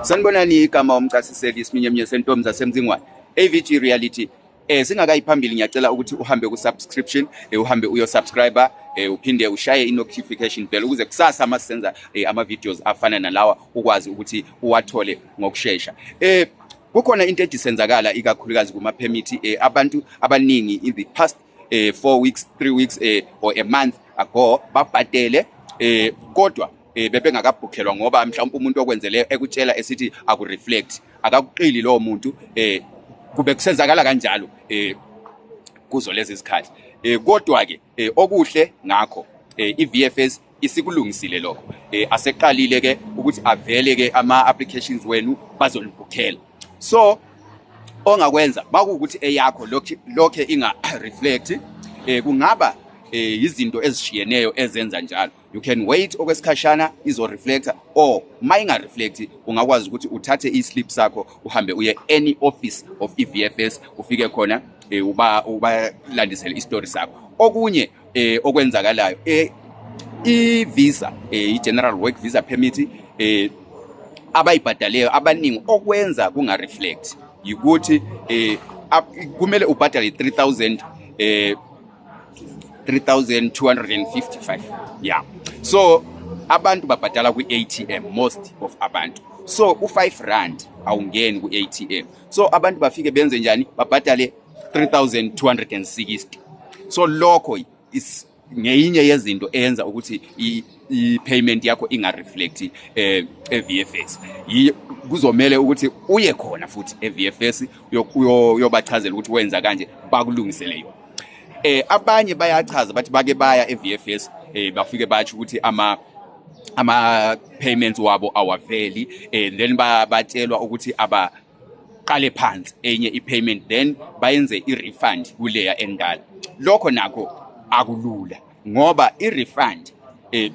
Sanibonani igama umcasiseli isiminye eminye sentombi zasemzingwane AVG reality eh singakayi phambili ngiyacela ukuthi uhambe ku subscription eh, uhambe uyo subscriber eh, uphinde ushaye i notification bell ukuze kusasa uma senza eh, ama videos afana nalawa ukwazi ukuthi uwathole ngokusheshsha eh kukhona into edisenzakala ikakhulukazi kuma permit eh, abantu abaningi in the past eh, 4 weeks 3 weeks eh, or a month ago babhadele eh, kodwa eh, bebengakabhukhelwa ngoba mhlawumbe umuntu okwenzele ekutshela esithi akureflect akakuqili lowo muntu eh kube kusenzakala kanjalo eh kuzo lezi zikhathi eh kodwa ke eh, okuhle ngakho eh, iVFS isikulungisile lokho eh aseqalile ke ukuthi avele ke ama applications wenu bazolibhukhela so ongakwenza bakuwukuthi eyakho lokhe inga reflect eh kungaba eh izinto ezishiyeneyo ezenza njalo you can wait okwesikhashana izo reflector or uma inga reflect ungakwazi ukuthi uthathe i slip sakho uhambe uye any office of EVFS ufike khona e, uba ubalandisele istory sakho okunye e, okwenzakalayo e, i visa e, i general work visa permit e, abayibhadaleyo abaningi okwenza kunga reflect yikuthi e, kumele ubhadale 3000 e, 3255 yeah so abantu babhadala kwi-atm most of abantu so u-5 rand awungeni ku-atm so abantu bafike benze njani babhadale 3260 so lokho is ngeyinye yezinto eyenza ukuthi i-payment yakho inga-reflect um eh, e-v f s kuzomele ukuthi uye khona futhi e-v f s uyobachazela ukuthi wenza kanje bakulungisele yona eh abanye bayachaza bathi bake baya eVFS eh bafike bathi ukuthi ama ama payments wabo awaveli eh then batshelwa ukuthi aba qale phansi enye i-payment then bayenze i-refund kuleya endala lokho nakho akulula ngoba i-refund eh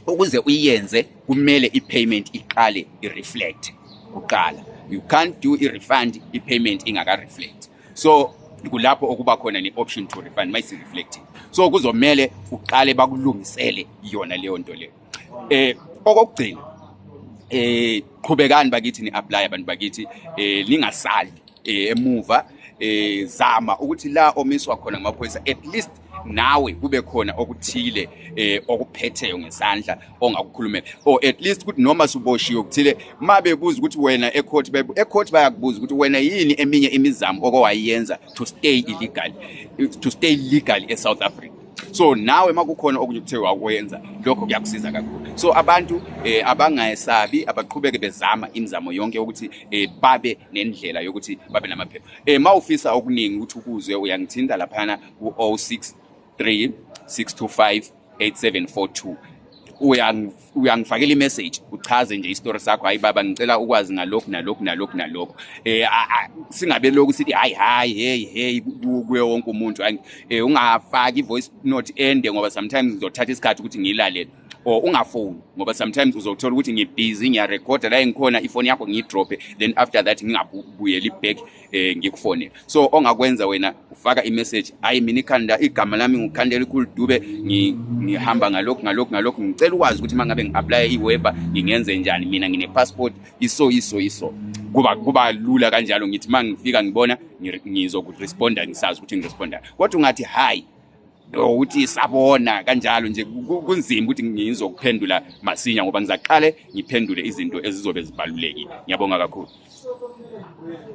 ukuze uyenze kumele i-payment iqale i-reflect kuqala you can't do i-refund i-payment ingaka-reflect so kulapho okuba khona ne-option to refund mayisi-reflecting so kuzomele uqale bakulungisele yona leyo nto leyo eh okokugcina eh qhubekani bakithi ni apply abantu bakithi eh ningasali eh, emuva eh zama ukuthi la omiswa khona ngamaphoyisa at least nawe kube khona okuthile eh okuphetheyo ngesandla ongakukhulumela or at least ukuthi noma suboshiwe ukuthile mabe kuza ukuthi wena ecourt ecourt bayakubuza ukuthi wena yini eminye imizamo okowayenza to stay illegal to stay legal e South Africa so nawe makukhona okunye kuthe wakwenza lokho kuyakusiza kakhulu so abantu eh, abangayesabi abaqhubeke bezama imizamo yonke ukuthi eh, babe nendlela yokuthi babe namaphepha eh, mawufisa okuningi ukuthi ukuzwe uyangithinta laphana ku 063 625 8742 uya uyangifakela imessage uchaze nje istory sakho hayi baba ngicela ukwazi ngalokhu nalokhu nalokhu nalokhu eh singabe lokhu sithi hayi hayi hey hey kuye wonke umuntu eh ungafaki voice note ende ngoba sometimes ngizothatha isikhathi ukuthi ngilalele or ungafoni ngoba sometimes uzothola ukuthi ngibhizi ngiyarekhoda la engikhona ifoni yakho ngiyidrophe then after that ngingabuyeli back eh ngikufonele so ongakwenza wena ufaka imessage hayi mina ikhanda igama lami ngikhandela ikhulu dube ngihamba ngalokhu ngalokhu ngalokhu ngicela ukwazi ukuthi mangabe ngiapply iWeber ngingenze njani mina ngine passport iso iso iso kuba kuba lula kanjalo ngithi mangifika ngibona ngizokuresponda ngisazi ukuthi ngiresponda kodwa ungathi hayi ukuthi sabona kanjalo nje kunzima ukuthi ngizokuphendula masinya ngoba ngizaqale ngiphendule izinto ezizobe zibalulekile ngiyabonga kakhulu